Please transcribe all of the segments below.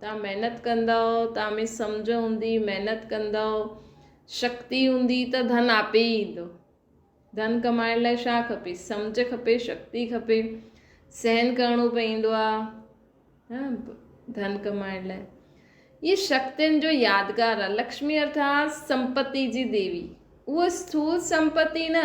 توهان محنت ڪندؤ، توهان ۾ سمجهه هوندي، محنت ڪندؤ، شڪتي هوندي ته ڌن آپي ئي ايندو. ڌن ڪمائڻ لاء ڇا کپي؟ سمجهه کپي، شڪتي کپي، سهن ڪرڻو پوندو آ ڌن ڪمائڻ لاء. هي شڪتين جو يادگار آ. لڪشمي ارٿات سمپتي جي ديوي. اهو اسٿول سمپتي نه.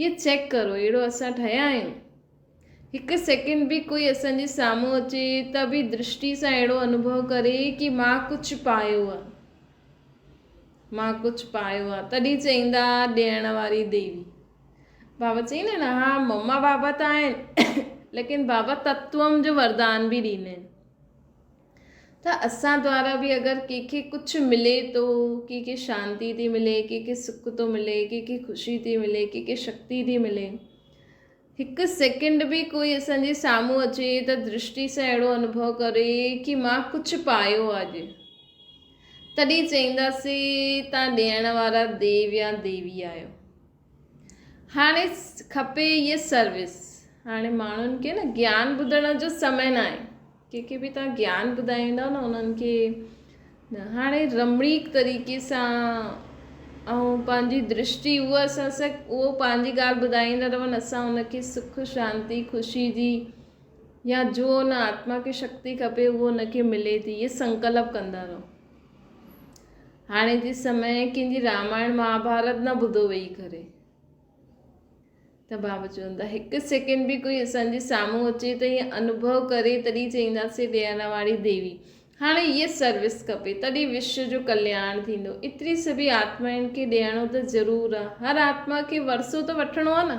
اهي چيڪ ڪرو اهڙو اسان ٺهيا آهيون هڪ سيڪنڊ به ڪوئي اسان جي سامهون اچي ته به درشٽي سان اهڙو انوڀو ڪري ڪي مان ڪجهه پايو آ مان ڪجهه پايو آ تڏهن چئيندا ڏيڻ واري ديوي بابا چئين آهن ها مما بابا ته آهن ليڪن بابا تتوم جو وردان به ڏيندا آهن ته اسان دوارا به اگر ڪنهن کي ڪجهه ملي ٿو، ڪنهن کي شانتي ٿي ملي، ڪنهن کي سک ٿو ملي، ڪنهن کي خوشي ٿي ملي، ڪنهن کي شڪتي ٿي ملي. هڪ سيڪنڊ به ڪوئي اسان جي سامهون اچي ته درشٽي سان اهڙو انوڀو ڪري ڪي مان ڪجهه پايو آ اڄ، تڏهن چئينداسين تان ڏيڻ وارا ديو يا ديوي آهيو. هاڻي کپي هيء سروس. هاڻي ماڻهن کي نه گيان ٻڌڻ جو سمي ناهي. ڪنهن کي به توهان گيان ٻڌائيندا نه انهن کي نه هاڻي رمڻيڪ طريقي سان ۽ پنهنجي درشٽي هو اسان سان اهو پنهنجي ڳالهه ٻڌائيندا رهن اسان ان کي سک شانتي خوشي جي يا جو ان آتما کي شڪتي کپي اهو ان کي ملي ٿي هيء سنڪلپ ڪندا رهو. هاڻي جي سمي ڪنهن جي رامائڻ مهاڀارت نه ٻڌو ويهي ڪري ته بابا چوندا هڪ سيڪنڊ به ڪوئي اسان جي سامهون اچي ته ائين انوڀو ڪري تڏهين چئينداسي ڏيڻ واري ديوي هاڻي هيء سروس کپي تڏهين وشو جو ڪلياڻ ٿيندو ايتري سڀي آتمائن کي ڏيڻو ته ضرور آ هر آتما کي ورسو ته وٺڻو آ نه.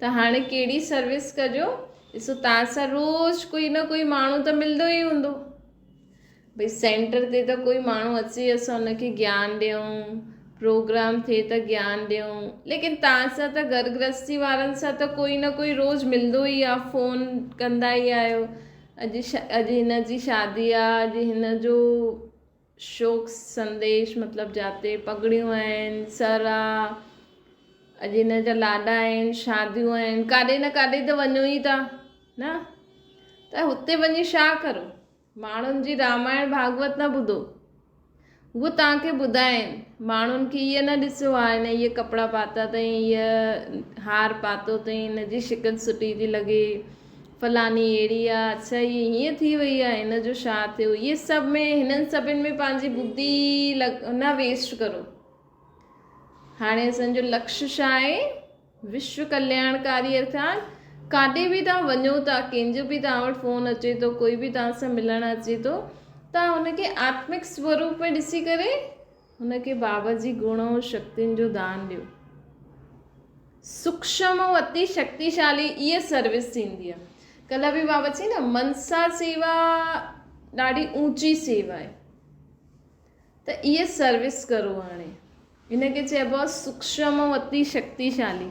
ته هاڻي ڪهڙي سروس ڪجو ڏسو تان سان روز ڪوئي نه ڪوئي ماڻهو ته ملندو ئي هوندو ڀئي سينٽر تي ته ڪوئي ماڻهو اچي اسان ان کي گيان ڏيون پروگرام ٿئي ته گيان ڏيون ليڪن تان سان ته گهر گرهستي وارن سان ته ڪوئي نه ڪوئي روز ملندو ئي آ فون ڪندا ئي آهيو اڄ اڄ هن جي شادي آ اڄ هن جو شوق سنديش مطلب جاتي پڳڙيون آهن، سر آ، اڄ هن جا لاڏا آهن، شاديون آهن، ڪاڏي نه ڪاڏي ته وڃو ئي ٿا نه ته هتي وڃي شا ڪرو؟ ماڻهن جي رامائڻ ڀاڳوت نه ٻڌو. هو توهان کي ٻڌائين، ماڻهن کي هيء نه ڏسيو آ هن هيء ڪپڙا پاتا اٿئي، هيء هار پاتو اٿئي، هن جي شڪل سٺي ٿي لڳي، فلاني اهڙي آ، اڇا هيء هيئن ٿي وئي آ، هن جو ڇا ٿيو، هيء سڀ ۾ هنن سڀن ۾ پنهنجي بدي نه ويسٽ ڪرو. هاڻي اسان جو لڪش ڇا آهي؟ وشو ڪلياڻڪاري ارٿات ڪاڏي به توهان وڃو ٿا، ڪنهن جو به توهان وٽ فون اچي ٿو، ڪوئي به توهان سان ملڻ اچي ٿو، توهان هن کي آتمڪ سوروپ ۾ ڏسي ڪري، هن کي بابت جي گڻ ۽ شڪتين جو دان ڏيو. سوڪشم ۽ اتي شڪتيشالي اهي سروس ٿيندي آهي. ڪلهه به بابت چئي نه منسا سيوا ڏاڍي اوچي سيوا آهي. ته اهي سروس ڪرو هاڻي. هن کي چئبو آهي سوڪشم ۽ اتي شڪتيشالي.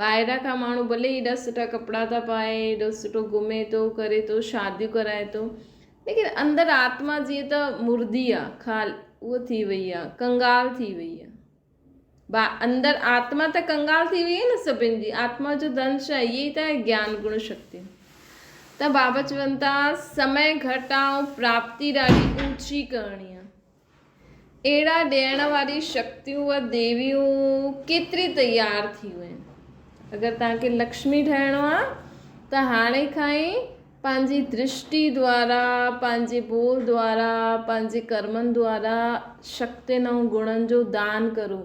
ٻاهران کان ماڻهو ڀلي ايڏا سٺا ڪپڙا ٿا پائي ايڏو سٺو گهمي ٿو ڪري ٿو شاديون ڪرائي ٿو ليڪن اندر آتما جيئن ته مردي آ خال اهو ٿي وئي آ ڪنگال ٿي وئي آ با اندر آتما ته ڪنگال ٿي وئي آ نه سڀن جي آتما جو ڌن ڇا اهي ئي ته گيان گڻ شڪتيون ته بابا چون ٿا سمي گهٽ آ ۽ پراپتي ڏاڍي اوچي ڪرڻي آ اهڙا ڏيڻ واري شڪتيون و ديويون ڪيتري تيار ٿيون آهن. اگر توهان کي لڪشمي ٺهڻو آ ته هاڻي کان ئي پنهنجي درشٽي دوارا، پنهنجي ٻول دوارا، پنهنجي ڪرمن دوارا شڪتين ۽ گڻن جو دان ڪرو.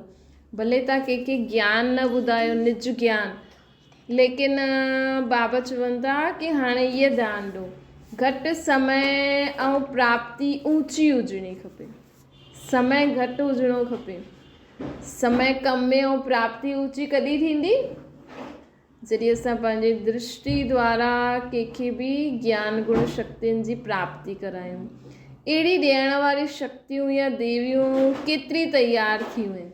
ڀلي توهان ڪنهن کي گيان نه ٻڌايو، نج گيان، ليڪن بابا چون ٿا ڪي هاڻي ايئن ڌيان ڏو گهٽ سمي ۽ پراپتي اوچي هجڻي کپي سمي گهٽ هجڻو کپي سمي ڪم ۾ ۽ پراپتي اوچي ڪڏهن ٿيندي جڏهن اسان پنهنجي درشٽي دوارا ڪنهنکي به گيان گڻ شڪتين جي پراپتي ڪرايون اهڙي ڏيڻ واري شڪتيون يا ديويون ڪيتري تيار ٿيون آهن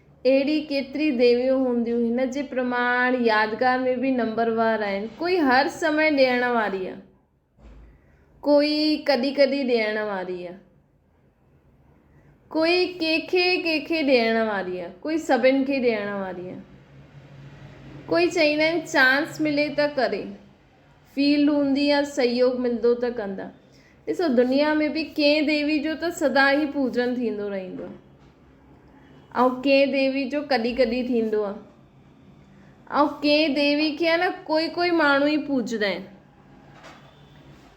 اهڙي ڪيتري ديويون هونديون هن جي پرماڻ يادگار ۾ به نمبر وار آهن. ڪوئي هر سمي ڏيڻ واري آهي ڪوئي ڪڏهن ڪڏهن ڏيڻ واري آهي ڪوئي ڪنهن کي ڪنهن کي ڏيڻ واري آهي ڪوئي سڀن کي ڏيڻ واري آهي ڪوئي چئيندا آهن چانس ملي ته ڪري. فيلڊ هوندي يا سهيوڳ ملندو ته ڪندا. ڏسو دنيا ۾ به ڪنهن ديوي جو ته سدا ئي پوڄن ٿيندو رهندو آهي ۽ ڪنهن ديوي جو ڪڏهن ڪڏهن ٿيندو آهي ۽ ڪنهن ديوي کي ها نه ڪوئي ڪوئي ماڻهو ئي پوڄندا آهن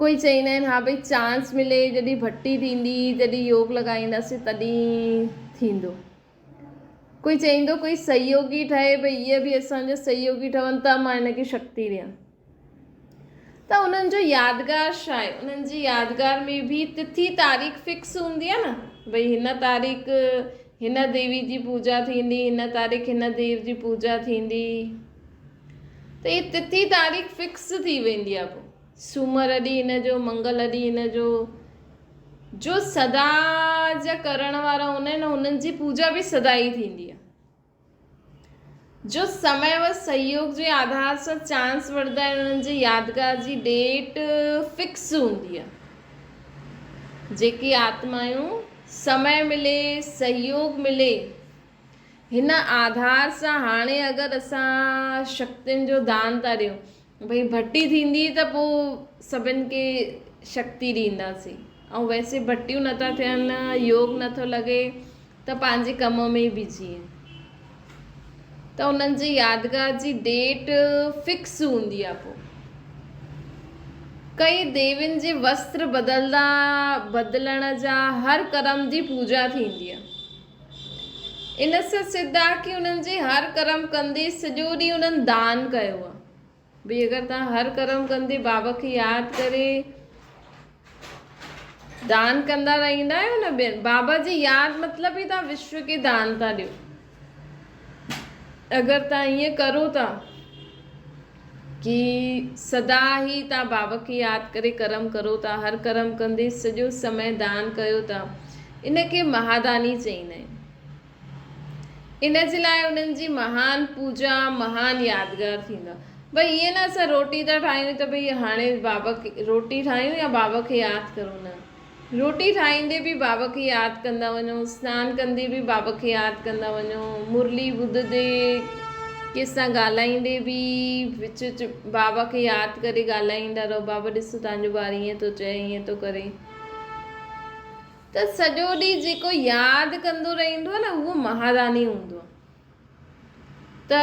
ڪوئي چئيندا آهن ها ڀئي چانس ملي جڏهن ڀٽي ٿيندي جڏهن يوگ لڳائينداسين تڏهن ٿيندو ڪوئي چئيندو ڪوئي سهيوگي ٺهي ڀئي اهي به اسان جا سهيوگي ٺهن ته مان هن کي شڪتي ڏيان ته انهن جو يادگار ڇا آهي انهن جي يادگار ۾ به تٿي تاريخ فڪس هوندي آهي نه ڀئي هن تاريخ هن ديوي جي پوجا ٿيندي هن تاريخ هن ديو جي پوجا ٿيندي ته هي تٿي تاريخ فڪس ٿي ويندي آهي پوء سومر ڏينهن هن جو منگل ڏينهن هن جو جو سدا جا ڪرڻ وارا هوندا آهن انهن جي پوجا به سدا ئي ٿيندي آهي جو سمي و سهيوگ جي آڌار سان چانس وڙهندا آهن انهن جي يادگار جي ڊيٽ فڪس هوندي آهي جيڪي آتمايون سمي ملي سهيوگ ملي هن آڌار سان هاڻي اگر اسان شڪتين جو دان ٿا ڏيون ڀئي ڀٽي ٿيندي ته پوء سڀن کي شڪتي ڏينداسين ۽ ويسي ڀٽيون نٿا ٿين يوگ نٿو لڳي ته پنهنجي ڪم ۾ ئي بزي آهن ته انهن جي يادگار جي ڊيٽ فڪس هوندي آهي پوء ڪئي ديوين جي وستر بدلدا بدلڻ جا هر ڪرم جي پوجا ٿيندي آهي ان سان سڌ آ ڪي انهن جي هر ڪرم ڪندي سڄو ڏينهن انهن دان ڪيو آ. ڀئي اگر توهان هر ڪرم ڪندي بابا کي ياد ڪري دان ڪندا رهيندا آهيو نه ٻين بابا جي ياد مطلب ئي توهان وشو کي دان ٿا ڏيو اگر توهان ائين ڪرو ٿا ڪي سدا هي تا باب کي ياد ڪري ڪرم ڪرو تا هر ڪرم ڪندي سڄو سمي دان ڪيو تا ان کي مهاداني چئين ۽ ان جي لاء انهن جي مهان پوجا مهان يادگار ٿيندا ڀئي ائين نه اسان روٽي تا ٺاهيون ته ڀئي هاڻي باب کي روٽي ٺاهيون يا باب کي ياد ڪرون نه روٽي ٺاهيندي به بابا کي ياد ڪندا وڃو، سنان ڪندي به بابا کي ياد ڪندا وڃو، مرلي ٻڌندي، ڪنهن سان ڳالهائيندي به وچ وچ بابا کي ياد ڪري ڳالهائيندا رهو، بابا ڏسو تنهنجو ٻار ائين ٿو چئي، ائين ٿو ڪري. ته سڄو ڏينهن جيڪو ياد ڪندو رهندو آهي نه اهو مهاراني هوندو آهي. ته.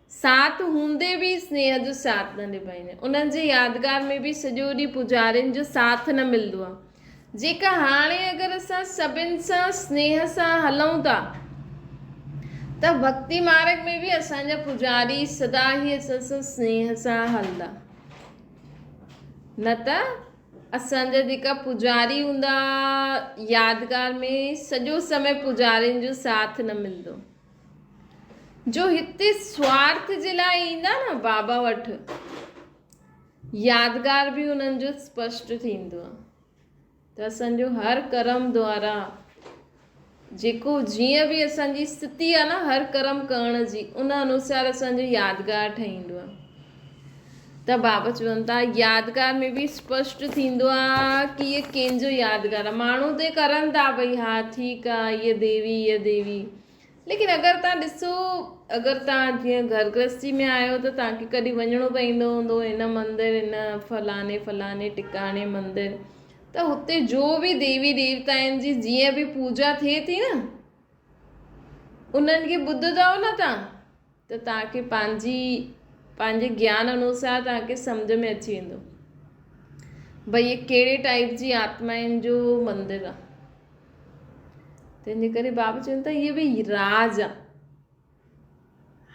ساٿ هوندي به سنيهه جو ساٿ نه نڀائيندي انهن جي يادگار ۾ به سڄو ڏينهن پوجارين جو ساٿ نه ملندو آهي جيڪا هاڻي اگر اسان سڀن سان سنيهه سان هلون ٿا ته ڀڳتي مارگ ۾ به اسان جا پوجاري سدا هي اسان سان سنيهه سان هلندا نه ته اسان جا جيڪا پوجاري هوندا يادگار ۾ سڄو سمي پوجارين جو ساٿ نه ملندو. جو هتي سوارٿ جي لاء ايندا نه بابا وٺ يادگار به انهن جو اسپشٽ ٿيندو آهي ته اسان جو هر ڪرم دوارا جيڪو جيئن به اسان جي ستي آهي نه هر ڪرم ڪرڻ جي ان انوسار اسان جو يادگار ٺهيندو آهي ته بابا چون ٿا يادگار ۾ به اسپشٽ ٿيندو آ ڪي هيء ڪين جو يادگار آ. ماڻهو ته ڪرن ٿا ڀئي ها ٺيڪ آ هيء ديوي هيء ديوي ليڪن اگر تان ڏسو اگر تان جيئن گهر گرهستي ۾ آهيو ته تان کي ڪڏهن وڃڻو پوندو هوندو هن مندر هن فلاني فلاني ٽڪاڻي مندر ته هتي جو به ديوي ديوتائن جي جيئن به پوجا ٿئي ٿي نه انهن کي ٻڌدؤ نه تان ته توهان کي پنهنجي پنهنجي گيان انوسار توهان کي سمجهه ۾ اچي ويندو ڀئي هي ڪهڙي ٽائيپ جي آتمائن جو مندر آ تنهنجي ڪري بابا چون ٿا هي به راز آ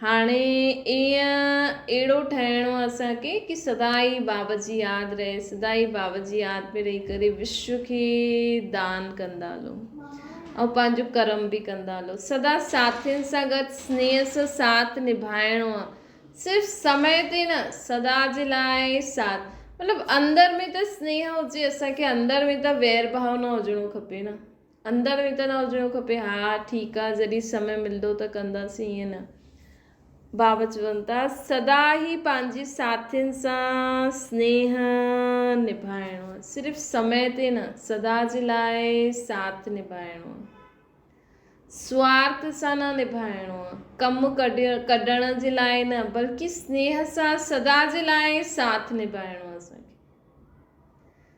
هاڻي ائين اهڙو ٺهڻو اسان کي ڪي سدا ئي بابا جي ياد رهي سدا ئي بابا جي ياد ۾ رهي ڪري وشو کي دان ڪندا هلون ۽ پنهنجو ڪرم به ڪندا هلو. سدا ساٿين سان گڏ سنيهه سان ساٿ نڀائڻو آ. صرف سمئي تي نه، سدا جي لاء آهي ساٿ. مطلب اندر ۾ ته سنيهه هجي اسان کي اندر ۾ ته وير ڀاء نه هجڻو کپي نه. اندر ۾ ته نه هجڻو کپي ها ٺيڪ آ جڏهن سمئي ملندو ته ڪنداسين ائين نه. باوجون ته سدا ئي پنهنجي ساٿين سان سنيهه نڀائڻو صرف سمئي تي نه سدا جي لاء ساٿ نڀائڻو سوارٿ سان نه نڀائڻو ڪم ڪڍڻ جي لاء نه بلڪه سنيهه سان سدا جي لاء ساٿ نڀائڻو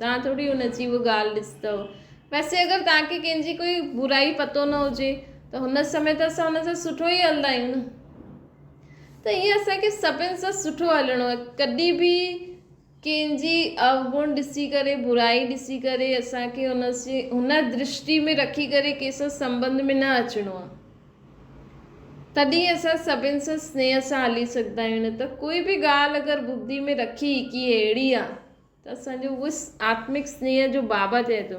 توهان ٿوري ان جي اها ڳالهه ڏسي اٿو. ويسي اگر توهان کي ڪنهن جي ڪوئي برائي پتو نه هجي ته هن سمي ته اسان هن سان سٺو ئي هلندا آهيون نه. ته ائين اسان کي سڀن سان سٺو هلڻو آهي. ڪڏهن به ڪنهن جي اوگڻ ڏسي ڪري برائي ڏسي ڪري اسان کي هن سي هن درشٽي ۾ رکي ڪري ڪنهن سان سنبنڌ ۾ نه اچڻو آهي. تڏهن اسان سڀن سان سنيهه سان هلي سگهندا آهيون نه ته ڪوئي به ڳالهه اگر ٻڌي ۾ رکي ڪي اهڙي آهي ته اسان جو اهو آتمڪ سنيهه جو بابا چئي ٿو.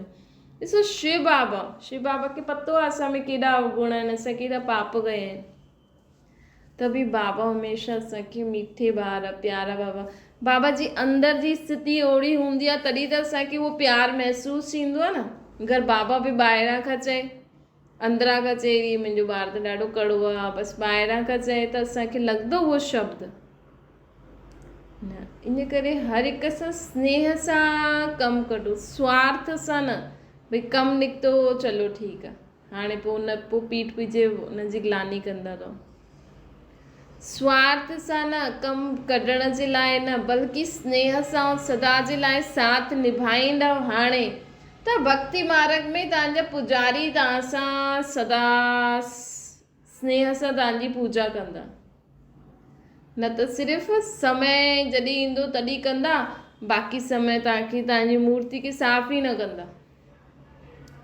ڏسو شو بابا، شو بابا کي پتو آهي اسان ۾ ڪيڏا اوگڻ آهن، اسان ڪيڏا پاپ ڪيا آهن. ته به بابا هميشه اسان کي ميٺي ٻار، پيارا بابا. بابا جي اندر جي استٿي اوڙي هوندي آهي تڏهن ته اسان کي اهو پيار محسوس ٿيندو آهي نه. اگر بابا به ٻاهران کان چئي. اندران کان چئي هي منهنجو ٻار ته ڏاڍو ڪڙو آ بس ٻاهران کان چئي ته اسان کي لڳندو اهو شبد نه ان ڪري هر هڪ سان سنيهه سان ڪم ڪڍو سوارٿ سان نه ڀئي ڪم نڪتو چلو ٺيڪ آ هاڻي پو ان پو پيٽ پيڇي ان جي گلاني ڪندا رهو سوارٿ سان نه، ڪم ڪڍڻ جي لاء نه، بلڪه سنيهه سان ۽ سدا جي لاء ساٿ نڀائيندؤ هاڻي ته ڀڳتي مارڳ ۾ توهان جا پوڄاري توهان سان سدا سنيهه سان توهان جي پوڄا ڪندا، نه ته صرف سمي جڏهن ايندو تڏهن ڪندا، باقي سمي توهان کي توهان جي مورتي کي صاف ئي نه ڪندا.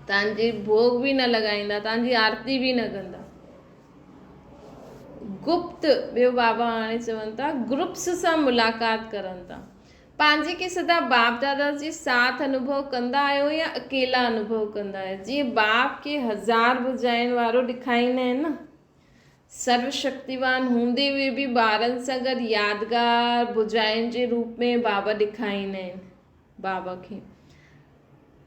تان جي ڀوڳ به نه لڳائيندا، تان جي آرتي به نه ڪندا. گپت، ٻيو بابا هاڻي چون ٿا گروپس سان ملاقات ڪرن ٿا. پنهنجي کي سدا باپ دادا جي ساٿ انوڀو ڪندا آهيو يا اڪيلا انوڀو ڪندا آهيو؟ جيئن باپ کي هزار ڀجاين وارو ڏکائيندا آهن نه. سرو شڪتيوان هوندي هئي به ٻارن سان گڏ يادگار ڀجاين جي روپ ۾ بابا ڏکائيندا آهن. باب کي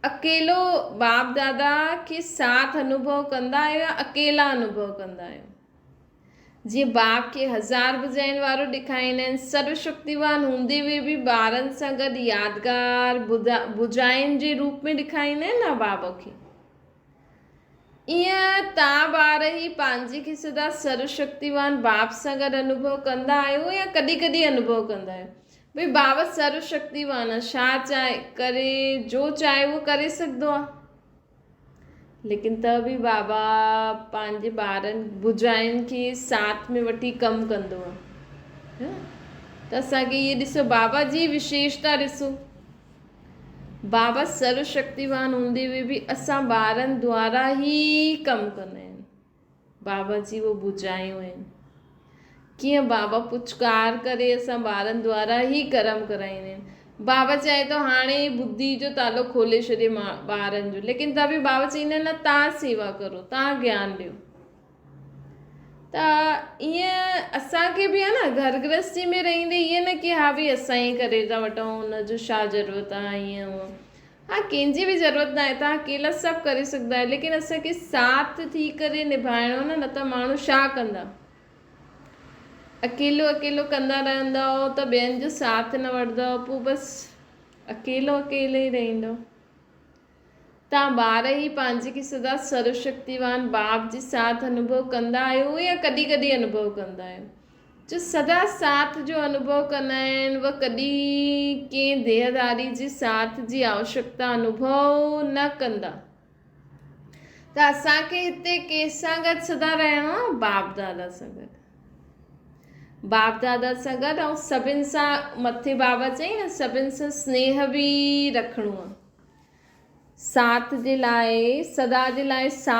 اڪيلو باب دادا کي ساٿ انوڀو ڪندا آهيو يا اڪيلا انوڀو ڪندا آهيو جيئن باب کي هزار ڀجاين وارو ڏيکاريندا آهن سرو شڪتيوان هوندي به به ٻارن سان گڏ يادگار ڀجاين جي روپ ۾ ڏيکاريندا آهن نه باب کي ايئن تان ٻارهي پنهنجي کي سدا سرو شڪتيوان باب سان گڏ انوڀو ڪندا آهيو يا ڪڏهن ڪڏهن انوڀو ڪندا آهيو. ڀئي باب سرو شڪتيوان آهي شا چاهي ڪري جو چاهي اهو ڪري سگهدو آهي. ليڪن ته به بابا پنهنجي ٻارن ڀوجائين کي ساٿ ۾ وٺي ڪم ڪندو آهي. ته اسان کي اهي ڏسو بابا جي وشيشتا ڏسو. بابت سرو شڪتيوان هوندي هئي به اسان ٻارن دوارا ئي ڪم ڪندا آهن بابا جي اهو ڀجايون آهن ڪيئن بابا پچڪار ڪري اسان ٻارن دوارا ئي ڪرم ڪرائيندا آهن بابا چاهي ٿو هاڻي ئي ٻڌي جو تالو کولي ڇڏي ٻارن جو ليڪن ته به بابا چئيندا آهن نه تان سيوا ڪرو تان گيان ڏيو ته ائين اسان کي به آهي نه گهر گرهستي ۾ رهيندي ائين نه ڪي ها ڀي اسان ئي ڪري ٿا وٺون ان جو ڇا ضرورت آهي ائين هونء ها ڪنهن جي به ضرورت نه آهي تون اڪيلا سڀ ڪري سگهندو آهي ليڪن اسان کي ساٿ ٿي ڪري نڀائڻو نه نه ته ماڻهو ڇا ڪندا اڪيلو اڪيلو ڪندا رهندو ته ٻين جو ساٿ نه وٺندو پوء بس اڪيلو اڪيلو ئي رهندو توهان ٻار ئي پنهنجي کي سدا سروشڪتيوان باب جي ساٿ انوڀو ڪندا آهيو يا ڪڏهن ڪڏهن انوڀو ڪندا آهيو. جو سدا ساٿ جو انوڀو ڪندا آهن اهي ڪڏهن ڪنهن ديهداري جي ساٿ جي آوشڪتا انوڀو نه ڪندا. ته اسان کي هتي ڪنهن سان گڏ سدا رهڻو آهي باب دادا سان گڏ. باب دادا سان گڏ ۽ سڀن سان مٿي بابا چيائين نه سڀن سان سنيهه به رکڻو آهي. ساٿ جي لاء، سدا جي لاء سا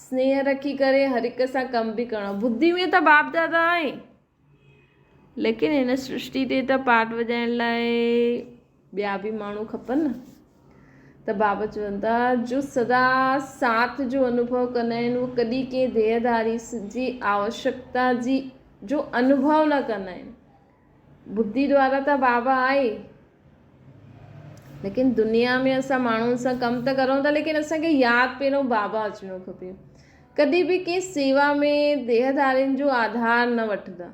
سنيهه رکي ڪري هر هڪ سان ڪم به ڪرڻو. ٻڌي هئين ته باپ دادا آهن، ليڪن هن سرشتي تي ته پارٽ وڄائڻ لاء ٻيا به ماڻهو کپن نه. ته بابا چون ٿا جو سدا ساٿ جو انوڀو ڪندا آهن، هو ڪڏهن ڪنهن ديهه ڌاري جي آوشڪتا جي جو انوڀو نه ڪندا آهن. ٻڌي ڏوارا ته بابا آهي ليڪن دنيا ۾ اسان ماڻهن سان ڪم ته ڪرون ٿا ليڪن اسان کي ياد پهريون بابا اچڻو کپي ڪڏهن به ڪنهن سيوا ۾ ديهدارين جو آڌار نه وٺندا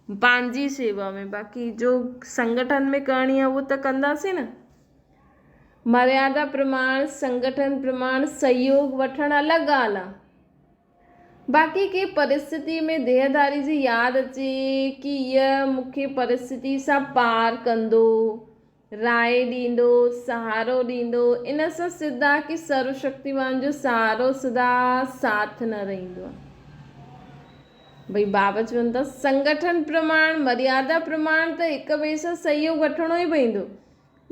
پنهنجي سيوا ۾ باقي جو سنگٺن ۾ ڪرڻي آهي اهو ته ڪنداسين نه مريادا پرماڻ سنگٺن پرماڻ سهيوگ وٺڻ الڳ ڳالهه آهي باقي ڪنهن پرستتي ۾ ديهداري جي ياد اچي ڪي ايء مون کي پرستتي سان پار ڪندو، راء ڏيندو، سهارو ڏيندو، ان سان سڌ آ ڪي سرو شڪتيوان جو سهارو سدا ساٿ نه رهندو آ. ڀئي بابا چون ٿا سنگٺن پرماڻ، مريادا پرماڻ ته هڪ ٻئي سان سهيوڳ وٺڻو ئي پوندو.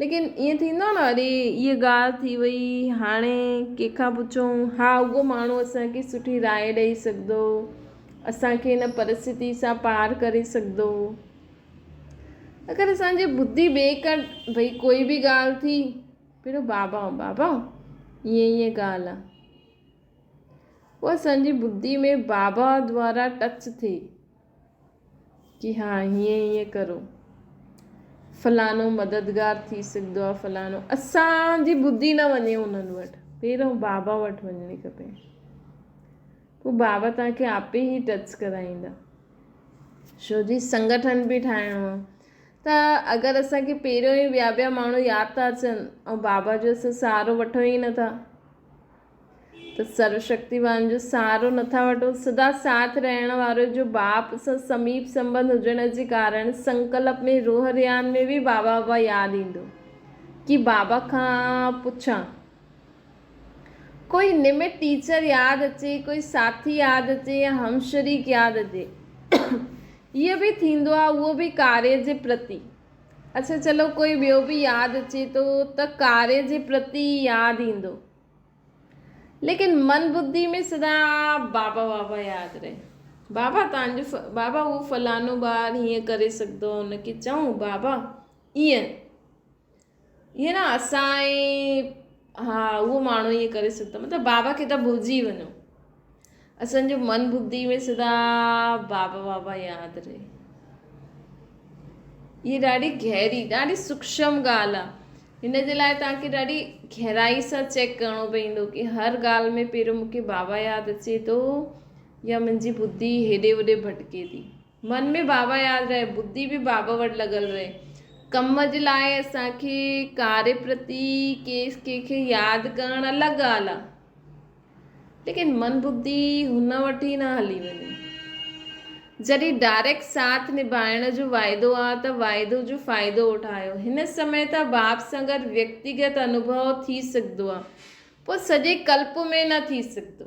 ليڪن ائين ٿيندو آهي نه اري هيء ڳالهه ٿي وئي هاڻي ڪنهن کان پڇون ها اهو ماڻهو اسان کي سٺي راء ڏئي سگهندو اسان کي هن پرستتي سان پار ڪري سگهندو اگر اسان جي ٻڌي ٻئي ڪا ڀئي ڪوئي به ڳالهه ٿي پهريون بابا بابا ائين ائين ڳالهه آهي پوء اسان جي ٻڌي ۾ بابا دوارا ٽچ ٿئي جي ها هيئن هيئن ڪرو فلانو مددگار ٿي سگهندو آ فلانو اسان جي ٻڌي نه وڃي انهن وٽ پهريون بابا وٽ وڃڻي کپي پوء بابا توهان کي آپي هي ٽچ ڪرائيندا شو جي سنگٺن به ٺاهڻو آ ته اگر اسان کي پهريون ئي ٻيا ٻيا ماڻهو ياد ٿا اچن ۽ بابا جو اسان سهارو وٺون ئي نٿا ته سروشڪتيوان جو سهارو نٿا وٺو، سدا ساٿ رهڻ وارو جو باپ سان سميپ سنٻنڌ هجڻ جي ڪارڻ سنڪلپ ۾ روح ريان ۾ به بابا بابا ياد ايندو ڪي بابا کان پڇان ڪوئي نمٽ ٽيچر ياد اچي ڪوئي ساٿي ياد اچي يا همشريڪ ياد اچي هيء به ٿيندو آ اهو به ڪاري جي پرتي اڇا چلو ڪوئي ٻيو به ياد اچي ٿو ته ڪاري جي پرتي ئي ياد ايندو. ليڪن من بدي ۾ سدا بابا بابا ياد رهي. بابا تان جو بابا اهو فلانو ٻار هيئن ڪري سگهندو آهي ان کي چئون بابا ايئن ايئن نه اسان ها اهو ماڻهو ايئن ڪري سگهندو مطلب بابا کي ته ڀلجي وڃو. اسان جو من ٻڌي ۾ سدا بابا بابا ياد رهي هي ڏاڍي گهري ڏاڍي سوکشم ڳالهه آ هن جي لاء توهان کي ڏاڍي گهرائي سان چيڪ ڪرڻو پوندو ڪي هر ڳالهه ۾ پهريون مونکي بابا ياد اچي ٿو يا منهنجي ٻڌي هيڏي هوڏي ڀٽڪي ٿي من ۾ بابا ياد رهي، ٻڌي به بابا وٽ لڳل رهي. ڪم جي لاء اسان کي ڪاري پرتي ڪيس ڪنهن کي ياد ڪرڻ الڳ ڳالهه آ. ليڪن من ٻڌي هن وٽ ئي نه هلي وڃي. جڏهن ڊائريڪٽ ساٿ نڀائڻ جو واعدو آ ته واعدو جو فائدو اٺايو. هن سمي ته باب سان گڏ ويڪتيگت انوڀو ٿي سگهندو آ. پر سڄي ڪلپ ۾ نه ٿي سگهندو.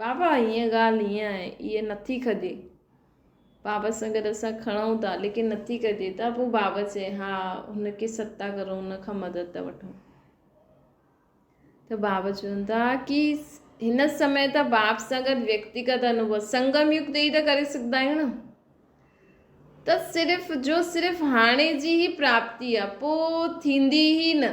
بابا هيء ڳالهه هيئن آهي، اهي نه ٿي کجي. بابت سان گڏ اسان کڻون ٿا، ليڪن نه ٿي کجي ته پوء بابت چئي، ها، هن کي ستا ڪرو، هن کان مدد ته وٺون. ته بابت چون ٿا ڪي هن سمي ته بابت سان گڏ ويڪتيگت انوڀو، سنگم يوگ تي ئي ته ڪري سگهندا آهيون نه. ته صرف جو صرف هاڻي جي ئي پراپتي آهي، پوء ٿيندي ئي نه.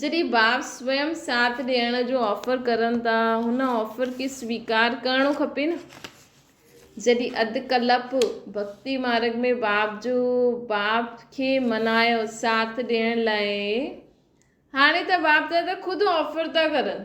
جڏهن ٻار سوئم ساٿ ڏيڻ جو آفر ڪرن ٿا هن آفر کي سويڪار ڪرڻو کپي نه جڏهن اڌ ڪلپ ڀڪتي مارگ ۾ باب جو باب کي منايو ساٿ ڏيڻ لاء هاڻي ته باب دادا خود آفر ٿا ڪرن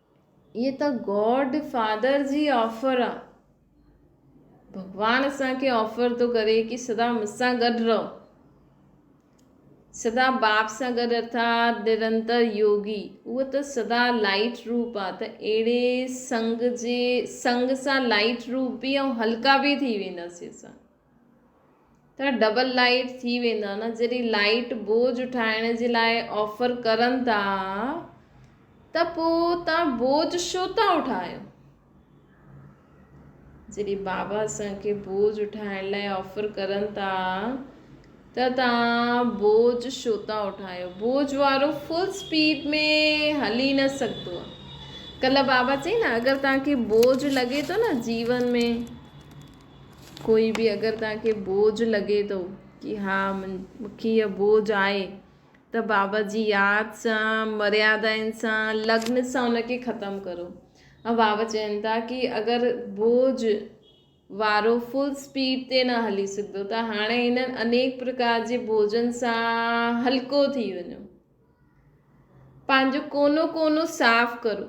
هيء ته گاڊ فادر جي آفر آ. ڀڳوان اسان کي آفر ٿو ڪري ڪي سدا مون سان گڏ رهو. سدا باب سان گڏ ارٿات نرنتر يوگي. اهو ته سدا لائٽ روپ آ ته اهڙي سنگ جي سنگ سان لائٽ روپ به ۽ هلڪا به ٿي وينداسين اسان. ته ڊبل لائيٽ ٿي ويندا نه جڏهن لائيٽ بوجھ ٺاهڻ جي لاء آفر ڪرن ٿا ته پو تان بوجھ شو ٿا اٺايو جڏهن بابا اسان کي بوجھ اٺائڻ لاء آفر ڪرن ٿا ته تان بوجھ شو ٿا اٺايو بوجھ وارو فل اسپيڊ ۾ هلي نه سگهندو ڪل بابا چئي نه اگر تان کي بوجھ لڳي ٿو نه جيون ۾ ڪوئي به اگر توهان کي بوجھ لڳي ٿو ڪي ها مونکي اهي بوجھ آهي ته بابا جي ياد سان مريادائن سان لگن سان ان کي ختم ڪرو ۽ بابا چين ٿا ڪي اگر بوجھ وارو فل اسپيڊ تي نه هلي سگھدو ته هاڻي هنن انيڪ پرڪار جي بوجھن سان هلڪو ٿي وڃو پنهنجو ڪونو ڪونو صاف ڪرو.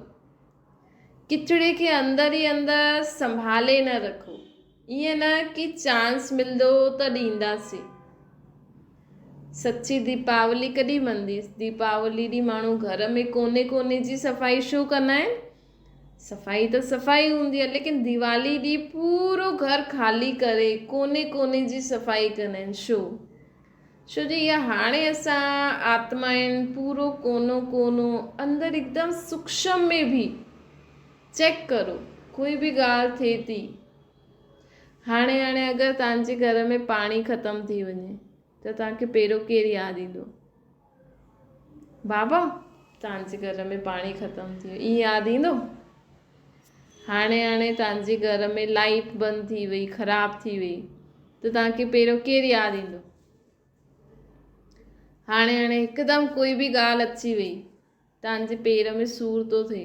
ڪچڙي کي اندر ئي اندر سنڀالي نه رکو. ائين نه ڪي چانس ملندو ته ڏينداسين. سچي ديپاولي ڪڏهن مندي؟ ديپاولي ڏينهن ماڻهو گهر ۾ ڪوني ڪوني جي صفائي شو ڪندا آهن؟ صفائي ته صفائي هوندي آهي ليڪن ديوالي ڏينهن پورو گهر خالي ڪري ڪوني ڪوني جي صفائي ڪندا آهن شو؟ ڇو جو اها هاڻي اسان آتمائن پورو ڪونو ڪونو اندر هڪدم سوڪشم ۾ بيهي چيڪ ڪرو ڪوئي به ڳالهه ٿئي ٿي هاڻي هاڻي اگر تهانجي گهر ۾ پاڻي ختم ٿي وڃي ته تهانکي پهريون ڪير ياد ايندو بابا تانجي گهر ۾ پاڻي ختم ٿي ويو اي ياد ايندو هاڻي هاڻي تانجي گهر ۾ لائيٽ بند ٿي وئي خراب ٿي وئي ته تانکي پهريون ڪير ياد ايندو هاڻي هاڻي هڪدم ڪوئي به ڳالهه اچي وئي تانجي پير ۾ سور ٿو ٿئي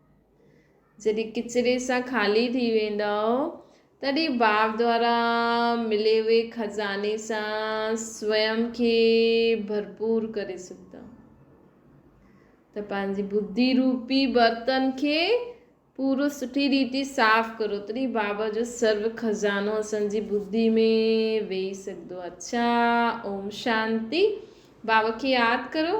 جڏهن ڪچري سان خالي ٿي ويندؤ، تڏهن باب دوارا ملي وئي خزاني سان سوئم کي ڀرپور ڪري سگهندؤ ته پنهنجي بدي روپي برتن کي پورو سٺي ريتي صاف ڪرو تڏهن باب جو سرو خزانو اسان جي بدي ۾ ويهي سگهندو اڇا اوم شانتي باب کي ياد ڪرو